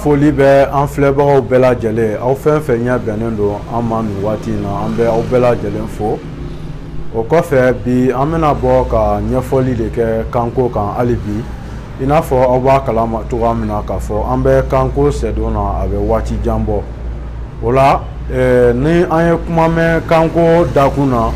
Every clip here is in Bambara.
foli bɛ an filɛbagaw bɛɛ lajɛlen aw fɛn fɛn ɲɛ bɛnnen don an ma nin waati in na an bɛ aw bɛɛ lajɛlen fo o kɔfɛ bi an bɛna bɔ ka ɲɛfɔli de kɛ kanko kan hali bi i n'a fɔ aw b'a kalama cogoya min na k'a fɔ an bɛ kanko sɛdon na a bɛ waati jan bɔ o la eh, ni an ye kuma mɛn kanko dakun na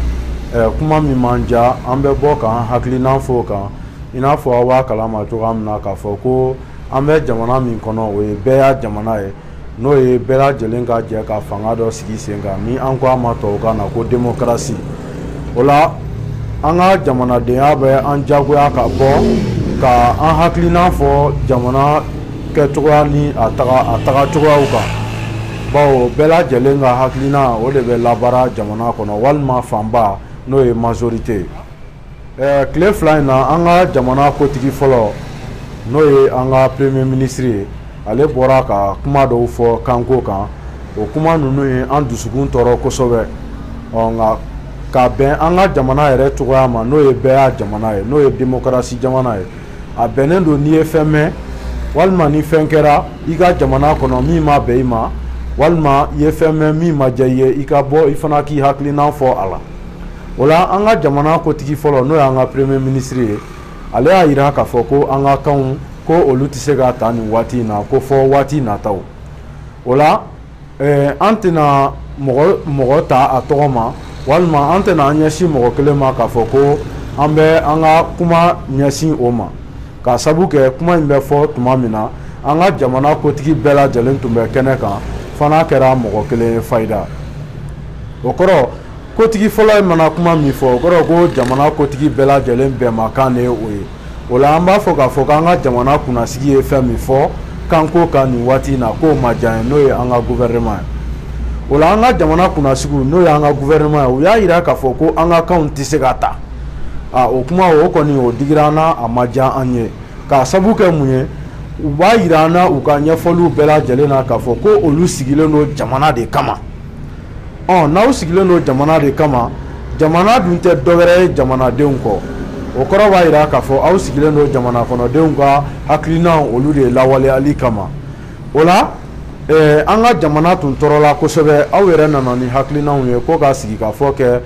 eh, kuma min ma diya an bɛ bɔ k'an hakilinan fɔ o kan i n'a fɔ aw b'a kalama cogoya min na k'a fɔ ko An bɛ jamana min kɔnɔ o ye bɛɛya jamana ye n'o ye bɛɛ lajɛlen ka jɛ ka fanga dɔ sigi sen kan ni an ko a ma tɔw kan na ko demokarasi o la an ka jamanadenya bɛ an jagoya ka bɔ ka an hakilina fɔ jamana kɛcogoya ni a tagacogoyaw kan bawo bɛɛ lajɛlen ka hakilina o de bɛ labaara jamana kɔnɔ walima fanba n'o ye mazorite ye tile fila in na an ka jamana kotigi fɔlɔ n'o ye an ka premier minisiri ye ale bɔra ka kuma dɔw fɔ kanko kan o kuma ninnu ye an dusukun tɔɔrɔ kosɛbɛ ɔ nka ka bɛn an ka jamana yɛrɛ cogoya ma n'o ye bɛɛya jamana ye n'o ye demokarasi jamana ye a bɛnnen don n'i ye fɛn mɛn walima ni fɛn kɛra i ka jamana kɔnɔ min ma bɛn i ma walima i ye fɛn mɛn min ma diya i ye i ka bɔ i fana k'i hakilinan fɔ a la o la an ka jamana kotigi fɔlɔ n'o y'an ka premier minisiri ye ale y'a jira k'a fɔ ko an ka kanw ko olu tɛ se ka ta nin waati in na ko fɔ waati nataw o la an tɛna mɔgɔ ta a tɔgɔ ma walima an tɛna an ɲɛsin mɔgɔ kelen ma k'a fɔ ko an bɛ an ka kuma ɲɛsin o ma k'a sabu kɛ kuma in bɛ fɔ tuma min na an ka jamana kotigi bɛɛ lajɛlen tun bɛ kɛnɛ kan fo n'a kɛra mɔgɔ kelen fayida o kɔrɔ kotigi fɔlɔ mana kuma min fɔ o kɔrɔ ko jamana kotigi bɛɛ lajɛlen bɛnmakan de ye o ye o la an b'a fɔ k'a fɔ k'an ka jamana kunnasigi ye fɛn min fɔ kanko kan nin waati in na k'o ma diya an ye n'o ye an ka gouvernement ye o la an ka jamana kunnasigiw n'o y'an ka gouvernement ye u y'a jira k'a fɔ ko an ka kanw tɛ se ka ta a o kuma o kɔni o digira an na a ma diya an ye k'a sabu kɛ mun ye u b'a jira an na u ka ɲɛfɔliw bɛɛ lajɛlen na k'a fɔ ko olu sigilen don jamana de kama n'aw sigilen don jamana de kama jamana dun tɛ dɔwɛrɛ ye jamanadenw kɔ o kɔrɔ b'a jira k'a fɔ aw sigilen don jamana kɔnɔdenw ka hakilinaw olu de lawaleyali kama o la an ka jamana tun tɔɔrɔla kosɛbɛ aw yɛrɛ nana ni hakilinaw ye ko ka sigikafɔ kɛ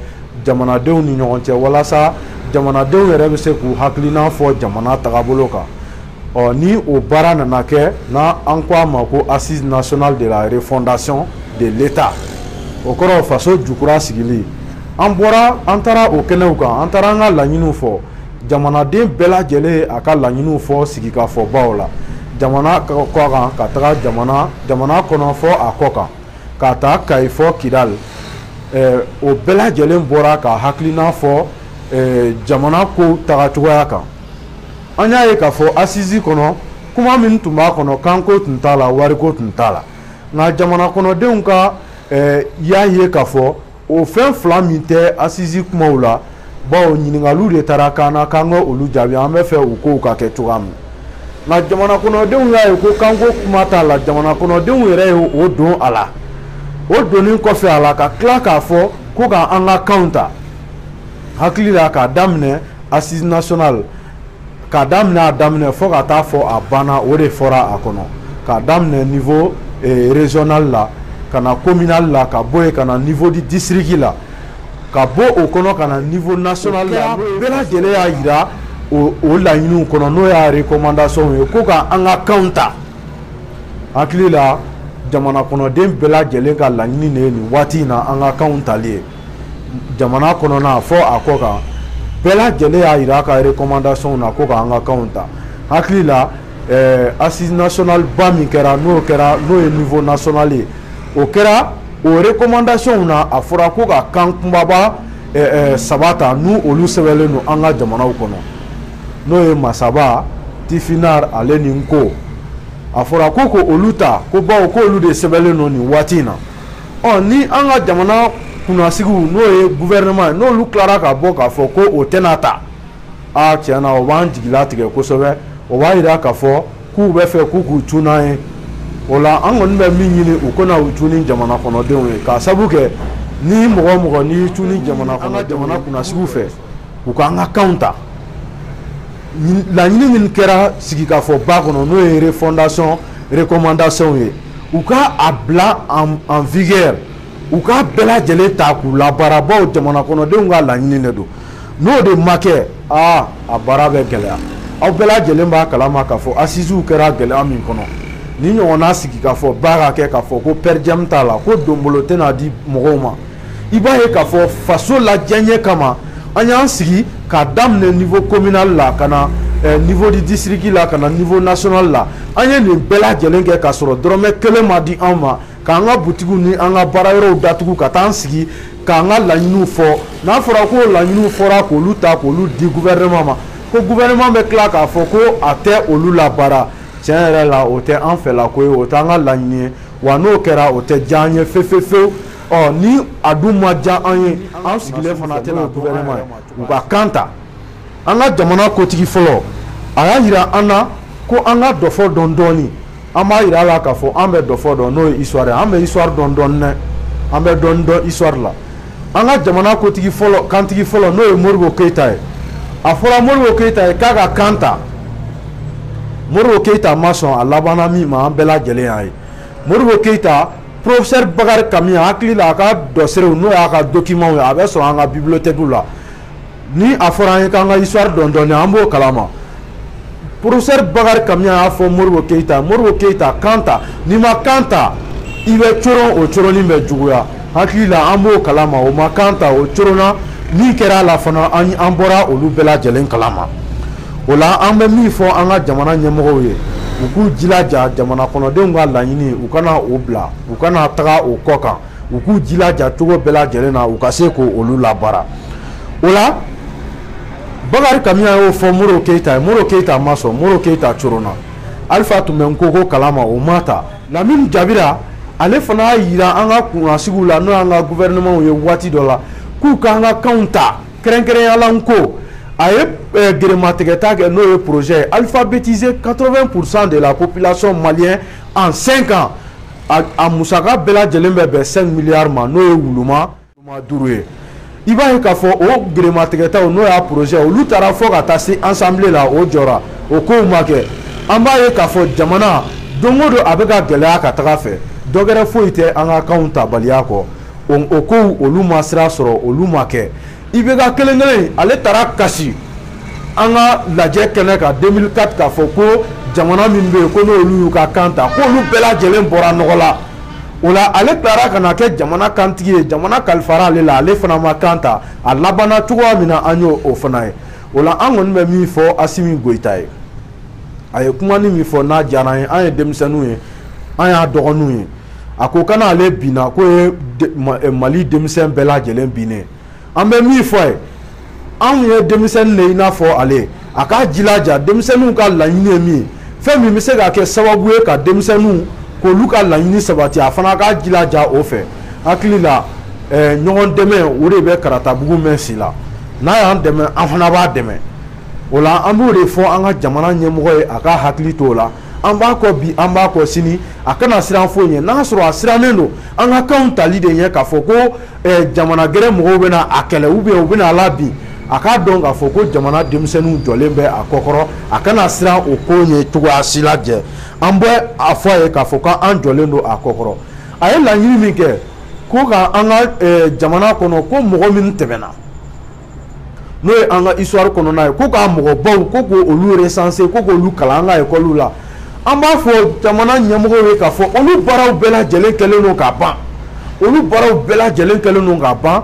jamanadenw ni ɲɔgɔn cɛ walasa jamanadenw yɛrɛ bɛ se k'u hakilina fɔ jamana tagabolo kan ɔ ni o baara nana kɛ na an ko a ma ko assise nationale de la refondation de l'État o kɔrɔ faso jukura sigili an bɔra an taara o kɛnɛw kan an taara an ka laɲiniw fɔ jamanaden bɛɛ lajɛlen y'a ka laɲiniw fɔ sigikafɔbaw la jamana kɔ kan ka taga jamana jamana kɔnɔ fo a kɔ kan k'a ta kayi fo kidali o bɛɛ lajɛlen bɔra k'a hakilina fɔ jamana ko tagacogoya kan an y'a ye k'a fɔ asizi kɔnɔ kuma min tun b'a kɔnɔ kanko tun t'a la wariko tun t'a la nka jamana kɔnɔdenw ka eh, y'a ye k'a fɔ o fɛn fila min tɛ asizi kumaw la bawo ɲininkaliw de taara kan na k'an ka olu jaabi an bɛ fɛ o kow ka kɛ cogoya min nka jamana kɔnɔdenw y'a ye ko kanko kuma t'a la jamana kɔnɔdenw yɛrɛ ye o don a la o donnen kɔfɛ a la ka tila k'a fɔ ko ka an ka kanw ta hakili la k'a daminɛ assise nationale k'a daminɛ a daminɛ fo ka taa fo a ban na o de fɔra a kɔnɔ k'a daminɛ niveau régional la ka na communal la ka bɔ yen ka na niveau district la ka bɔ o kɔnɔ ka na niveau national bɛɛ lajɛlen y'a jira o laɲini kɔnɔ n'o y'a recommandation ye ko ka an ka kanw ta hakili la jamana kɔnɔden bɛɛ lajɛlen ka laɲini de ye nin waati in na an ka kanw tali ye jamana kɔnɔna fo a kɔ kan bɛɛ lajɛlen y'a jira a ka recommandation na ko k'an ka kanw ta hakili la eh, assise nationale ba min kɛra n'o kɛra n'o ye niveau national ye o kɛra o recommandation na a fɔra ko ka kan kunbaba eh, eh, saba ta n'olu sɛbɛnlen don an ka jamanaw kɔnɔ n'o ye masaba tifinar ale ni nko a fɔra ko k'olu ta ko bawo k'olu de sɛbɛnlen don nin waati in na ɔ ni an ka jamana kunnasigiw n'o ye gouvernement ye n'olu tilara ka bɔ k'a fɔ ko o tɛna ta aa tiɲɛ na o b'an jigilatigɛ kosɛbɛ o b'a jira k'a fɔ k'u bɛ fɛ k'u k'u cun n'an ye o la an kɔni bɛ min ɲini u kana u cun ni jamana kɔnɔdenw ye k'a sabu kɛ ni mɔgɔ o mɔgɔ n'i y'i cun ni jamana kɔnɔ jamana kunnasigiw fɛ u k'an ka kanw ta laɲini min kɛra sigikafɔba kɔnɔ n'o ye refondation recommandation ye u ka a bila en vigueur u ka bɛɛ lajɛlen ta k'u labaara bawo jamana kɔnɔdenw ka laɲini de don n'o de ma kɛ aa a baara bɛ gɛlɛya aw bɛɛ lajɛlen b'a kalama k'a fɔ asiziw kɛra gɛlɛya min kɔnɔ nin ɲɔgɔnna sigikafɔba ka kɛ k'a fɔ ko per diem t'a la ko donbolo tɛna di mɔgɔw ma i b'a ye k'a fɔ faso la diyaɲɛ kama an y'an sigi k'a daminɛ niveau communal la ka na eh, niveau du district la ka na niveau national la an ye nin bɛɛ lajɛlen kɛ k'a sɔrɔ dɔrɔmɛ kelen ma di an ma k'an ka butigiw ni an ka baarayɔrɔw datugu ka taa an sigi k'an ka laɲiniw fɔ n'a fɔra ko laɲiniw fɔra k'olu ta k'olu di gouvernement ma ko gouvernement bɛ tila k'a fɔ ko a tɛ olu labaara tiɲɛ yɛrɛ la o tɛ an fɛlako ye o t'an ka laɲini ye wa n'o kɛra o tɛ diya an ye fefefewu ni a dun ma diya an ye an sigilen fana a tɛna gouvernement ye u ka kan ta an ka jamana kotigi fɔlɔ a y'a jira an na ko an ka dɔfɔ dɔn dɔɔni an b'a jira a la k'a fɔ an bɛ dɔfɔ dɔn n'o ye histoire ye an bɛ histoire dɔn dɔɔni dɛ an bɛ dɔɔni dɔn histoire la an ka jamana kotigi fɔlɔ kantigi fɔlɔ n'o ye Modibo Keyita ye a fɔra Modibo Keyita ye k'a ka kan ta Modibo Keyita ma sɔn a labanna min ma an bɛɛ lajɛlen y'a ye Modibo Keyita Professeur Bakari Kamiyan hakili la a ka dɔserew n'o y'a ka documents ye a bɛ sɔrɔ an ka bibliothèques la ni a fɔra an ye k'an ka histoire dɔn dɔɔni an b'o kalama professeur Bakari Kamiyan y'a fɔ Modibo Keyita Modibo Keyita kan ta n'i ma kan ta i bɛ coron o coronni bɛ juguya hakili la an b'o kalama o ma kan ta o coronna min kɛra a la fana an bɔra olu bɛɛ lajɛlen kalama. o la an bɛ min fɔ an ka jamana ɲɛmɔgɔw ye u k'u jilaja jamana kɔnɔdenw ka laɲini u kana o bila u kana taga o kɔ kan u k'u jilaja cogo bɛɛ lajɛlen na u ka se k' olu labaara o la bakari kamiyan y'o fɔ modibo keyita ye modibo keyita ma sɔn modibo keyita coronna alifa tun bɛ nko ko kalama o ma ta lamini jabira ale fana y'a jira an ka kunnasigiw la n'o y'an ka gouvernementw ye waati dɔ la k'u k'an ka kanw ta Kɛrɛnkɛrɛnya la ko a ye gerematigɛta kɛ n'o ye projet ye alphabétiser quatre-vingts pour cent de la population malienne en cinq ans a musaka bɛɛ lajɛlen bɛ bɛn cinq milliards ma n'o ye wuluma duuru ye i b'a ye k'a fɔ o gerematigɛta n'o y'a projet olu taara fo ka taa se assemblée la o jɔra o ko ma kɛ an b'a ye k'a fɔ jamana don o don a bɛ ka gɛlɛya ka taga fɛ dɔwɛrɛ foyi tɛ an ka kan tabaliya kɔ o ko olu ma sira sɔrɔ olu ma kɛ IBK kelen kelen ale taara kasi an ka lajɛ kɛnɛ kan deux mille quatre k'a fɔ ko jamana min bɛ yen ko n'olu y'u ka kan ta ko olu bɛɛ lajɛlen bɔra nɔgɔ la o la ale taara ka na kɛ jamana kantigi ye jamana kalifara ale la ale fana ma kan ta a laban cogoya min na an y'o o fana ye o la an kɔni bɛ min fɔ asimi goyita ye a ye kuma nin min fɔ n'a diyara ye an ye denmisɛnninw ye an y'a dɔgɔninw ye a ko kana ale bin ko ye mali denmisɛn bɛɛ lajɛlen bin ye an bɛ min fɔ a ye anw ye denmisɛnnin de ye i n'a fɔ ale a k'a jilaja denmisɛnninw ka laɲini ye min fɛn min bɛ se ka kɛ sababu ye ka denmisɛnninw k'olu ka laɲini sabati a fana k'a jilaja o fɛ hakili la eh, ɲɔgɔn dɛmɛ o de bɛ karatabugu mɛɛn si la n'a y'an dɛmɛ an fana b'a dɛmɛ o la an b'o de fɔ an ka jamana ɲɛmɔgɔ ye a ka hakili to o la an b'a kɔ bi an b'a kɔ sini a kana siran foyi ɲɛ n'a sɔrɔ a sirannen don an ka kanw tali de ɲɛ k'a fɔ ko eh, jamana gɛrɛ mɔgɔw bɛna a kɛlɛ u bɛn u bɛna a labin a k'a dɔn k'a fɔ ko jamana denmisɛnninw jɔlen bɛ a kɔkɔrɔ a kana siran o ko ɲɛ cogoya si la jɛ an bɛ a fɔ a ye k'a fɔ k'an jɔlen don a kɔkɔrɔ a ye laɲini min kɛ ko ka an ka eh, jamana kɔnɔ ko mɔgɔ minw tɛmɛna n'o ye an ka histoire kɔnɔna ye ko ka mɔgɔbaw ko k'olu recenser ko k'olu kalan an ka ekɔliw la an b'a fɔ jamana ɲɛmɔgɔw ye k'a fɔ olu baaraw bɛɛ lajɛlen kɛlen don ka ban olu baaraw bɛɛ lajɛlen kɛlen don ka ban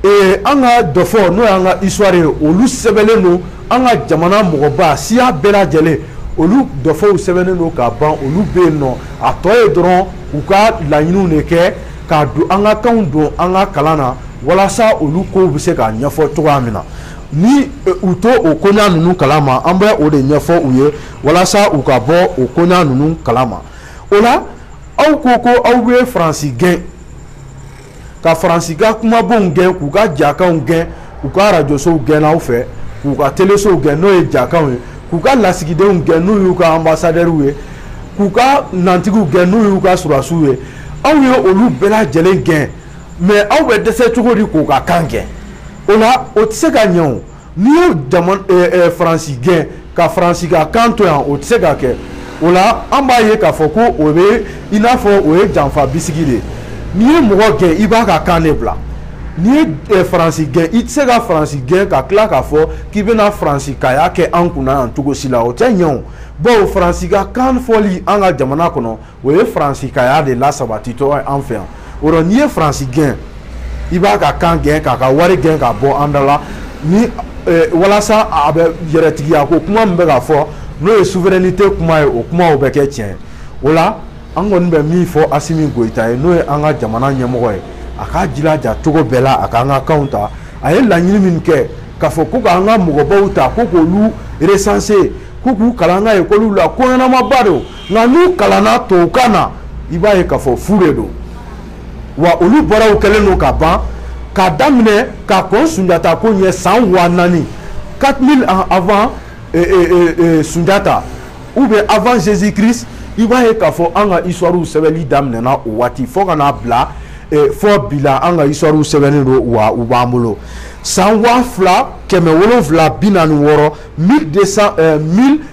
ee an ka dɔfɔ n'o y'an ka histoire ye olu sɛbɛnnen don an ka jamana mɔgɔba siya bɛɛ lajɛlen olu dɔfɔw sɛbɛnnen don ka ban olu bɛ yen nɔ a tɔ ye dɔrɔn u ka laɲiniw de kɛ k'a don an ka kanw don an ka kalan na walasa olu kow bɛ se ka ɲɛfɔ cogoya min na ni eh, u t'o koɲa ninnu kala ma an bɛ o de ɲɛfɔ u ye walasa u ka bɔ o koɲa ninnu kala ma o la aw ko ko aw bɛ faransi gɛn ka faransi ka kumabonw gɛn k'u ka jakanw gɛn u ka arajosow gɛn aw fɛ k'u ka telesow gɛn n'o ye jakanw ye k'u ka lasigidenw gɛn n'o y'u ka anbasadɛriw ye k'u ka nantigiw gɛn n'o y'u ka sɔrɔdasiw ye aw ye olu bɛɛ lajɛlen gɛn mais aw bɛ dɛsɛ cogo di k'u ka kan gɛn o la o tɛ se ka ɲɛ n'i y'o faransi gɛn ka faransi ka kan to yan o tɛ se ka kɛ o la an b'a ye k'a fɔ ko o bɛ i n'a fɔ o ye janfa bisigi de ye n'i ye mɔgɔ gɛn i b'a ka kan de bila n'i ye eh, faransi gɛn i tɛ se ka faransi gɛn ka tila k'a fɔ k'i bɛna faransikaya kɛ an kunna yan cogo si la o tɛ ɲɛ o bawo faransi ka kan fɔli an ka jamana kɔnɔ o ye faransikaya de lasabatitɔ an fɛ yan o rɔ n'i ye faransi gɛn i b'a ka kan gɛn k'a ka wari gɛn k'a bɔ an da la ni eh, walasa a bɛ yɛrɛtigiya ko kuma min bɛ ka fɔ n'o ye souveraineté kuma ye o kumaw bɛ kɛ tiɲɛ o la an kɔni bɛ min fɔ asimi goyita ye n'o ye an ka jamana ɲɛmɔgɔ ye a k'a jilaja cogo bɛɛ la a k'an ka kanw ta a ye laɲini min kɛ k'a fɔ ko k'an ka mɔgɔbaw ta ko k'olu recenser ko k'u kalan an ka ekɔliw la ko ɲɛnamaba don nka n'u kalanna tubabukan na i b'a ye k'a fɔ fu de don wa olu baaraw kɛlen don ka ban k'a daminɛ ka kɔn sunjata ko ɲɛ san waa naani 4000 ans avant eh, eh, eh, eh, sunjata ou bien avant jésus christ i b'a ye k'a fɔ an ka histoire sɛbɛnni daminɛna o waati fo ka n'a bila eh, fo bi la an ka histoire sɛbɛnnen don wa u b'an bolo san waa fila kɛmɛ wolonwula bi naani wɔɔrɔ 1200 eh, 1000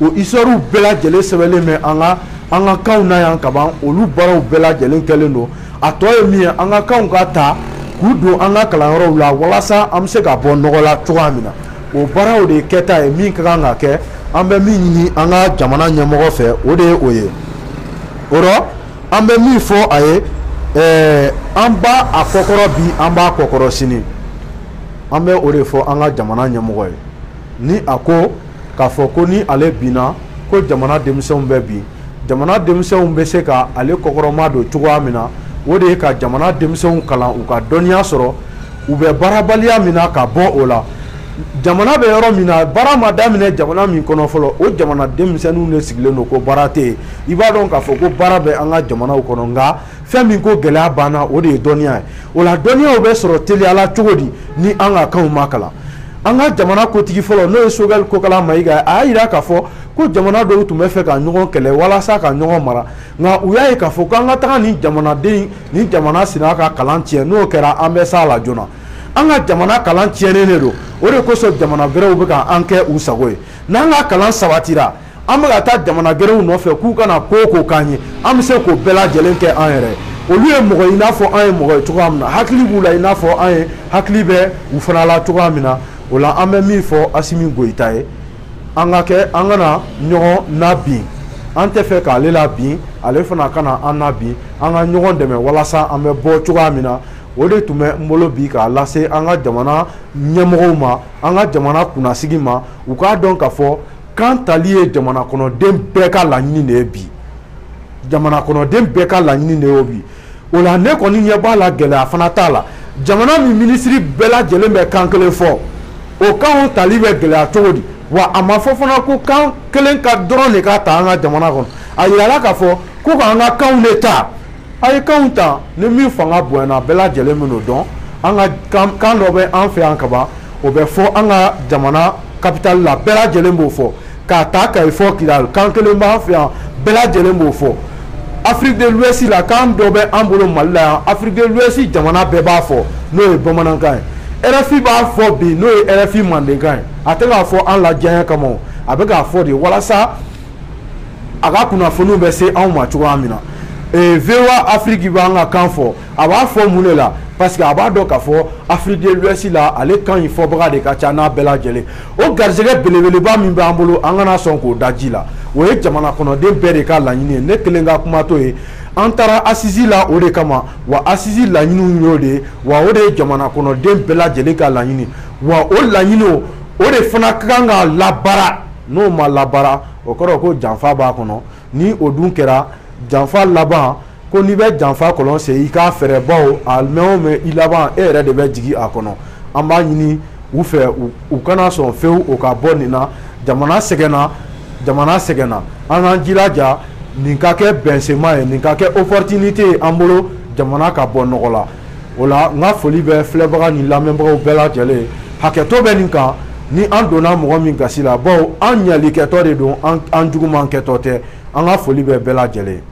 o histoirew bɛɛ lajɛlen sɛbɛnlen bɛ an ka an ka kanw na yan kaban olu baaraw bɛɛ lajɛlen kɛlen don a tɔ ye min ye an ka kanw ka ta k'u don an ka kalanyɔrɔw la walasa an bɛ se ka bɔ nɔgɔ la cogoya min na o baaraw de ye kɛta ye min ka kan ka kɛ an bɛ min ɲini an ka jamana ɲɛmɔgɔ fɛ o de ye o ye o rɔ an bɛ min fɔ a ye ɛɛ an b'a kɔkɔrɔ bi an b'a kɔkɔrɔ sini an bɛ o de fɔ an ka jamana ɲɛmɔgɔ ye ni a ko k'a fɔ ko ni ale binna ko jamana denmisɛnw bɛ bin jamana denmisɛnw bɛ se ka ale kɔkɔrɔma don cogoya min na o de ye ka jamana denmisɛnw kalan u ka dɔnniya sɔrɔ u bɛ baarabaliya min na ka bɔ o la jamana bɛ yɔrɔ min na baara ma daminɛ jamana min kɔnɔ fɔlɔ o jamana denmisɛnninw de sigilen don ko baara tɛ yen i b'a dɔn k'a fɔ ko baara bɛ an ka jamanaw kɔnɔ nka fɛn min ko gɛlɛya b'an na o de ye dɔnniya ye o la dɔnniyaw bɛ sɔrɔ teliya la cogo di ni an ka kanw ma kalan an ka jamana kotigi fɔlɔ n'o ye sogɛli kokala mayiga a y'a yira k'a fɔ ko jamana dɔw tun bɛ fɛ ka ɲɔgɔn kɛlɛ walasa ka ɲɔgɔn mara nka u y'a ye k'a fɔ ko an ka taga nin jamanaden nin jamana sina ka kalan tiɲɛ n'o kɛra an bɛ s'a la joona an ka jamana kalan tiɲɛnen de don o de kosɔn jamana gɛrɛw bɛ ka an kɛ u sago ye n'an ka kalan sabatira An bɛ ka taa jamana gɛrɛw nɔfɛ k'u ka na ko ko k'an ye an bɛ se k'o bɛɛ lajɛlen kɛ an yɛrɛ olu ye mɔgɔ ye i n'a fɔ an ye mɔgɔ ye cogoya min na hakili b'u la i n'a fɔ an ye hakili bɛ u fana la cogoya min na o la an bɛ min fɔ asimi goyita ye an ka kɛ an kana ɲɔgɔn nabin an tɛ fɛ k'ale labin ale fana kana an nabin an ka ɲɔgɔn dɛmɛ walasa an bɛ bɔ cogoya min na o de tun bɛ n bolo bi k'a lase an ka jamana ɲɛmɔgɔw ma an ka jamana kunnasigi ma u k'a dɔn k'a fɔ kan tali ye jamana kɔnɔden bɛɛ ka laɲini de ye bi jamana kɔnɔden bɛɛ ka laɲini de ye bi o la ne kɔni ɲɛ b'a la gɛlɛya fana t'a la jamana min minisiri bɛɛ lajɛlen bɛ kan kelen fɔ o kanw tali bɛ gɛlɛya cogo di wa a ma fɔ fana ko kan kelen ka dɔrɔn de ka ta an ka jamana kɔnɔ a yirala k'a fɔ ko k'an ka kanw de ta a ye kanw ta ni min fanga bonyana a bɛɛ lajɛlen bɛn'o dɔn an ka kan dɔ bɛ an fɛ yan kaban o bɛ fɔ an ka jamana kapitali la bɛɛ lajɛlen b'o fɔ k'a ta kayi fo kidali kan kelen b'an fɛ yan bɛɛ lajɛlen b'o fɔ afiriki de luwɛsi la kan dɔ bɛ an bolo mali la yan afiriki de luwɛsi jamana bɛɛ b'a fɔ n'o ye bamanankan ye rfi b'a fɔ bi n'o ye rfi mandenkan ye a tɛ k'a fɔ an lajɛɲɛ kama a bɛ k'a fɔ de walasa a ka kunnafoniw bɛ se anw ma cogoya min na ee, VOA Afrique b'an ka kan fɔ a b'a fɔ mun de la parce que a b'a dɔn k'a fɔ Afrique de l'Ouest la ale kan in fɔbaga de ka ca n'a bɛɛ lajɛlen o garisɛgɛ belebeleba min b'an bolo an kana sɔn k'o da ji la o ye jamana kɔnɔden bɛɛ de ka laɲini ye ne kelen ka kuma t'o ye an taara asisi la o de kama wa asisi laɲiniw y'o de ye wa o de ye jamana kɔnɔden bɛɛ lajɛlen ka laɲini wa o laɲiniw o de fana ka kan ka labaara n'o ma labaara o kɔrɔ ko janfa b'a kɔnɔ ni o dun kɛra janfa laban ko n'i bɛ janfa kɔlɔn sen i k'a fɛrɛ baw a mɛn o mɛn i laban e yɛrɛ de bɛ jigin a kɔnɔ an b'a ɲini u fɛ u kana sɔn fewu o ka bɔ nin na jamana sɛgɛnna jamana sɛgɛnna an k'an jija nin ka kɛ bɛnsenma ye nin ka kɛ opportunité ye an bolo jamana ka bɔ nɔgɔ la o la n ka foli bɛ filɛbaga ni lamɛnbagaw bɛɛ lajɛlen hakɛto bɛ nin kan ni an donna mɔgɔ min gasi la baw an ɲali kɛtɔ de don an juguman kɛtɔ tɛ an ka foli bɛ bɛɛ lajɛlen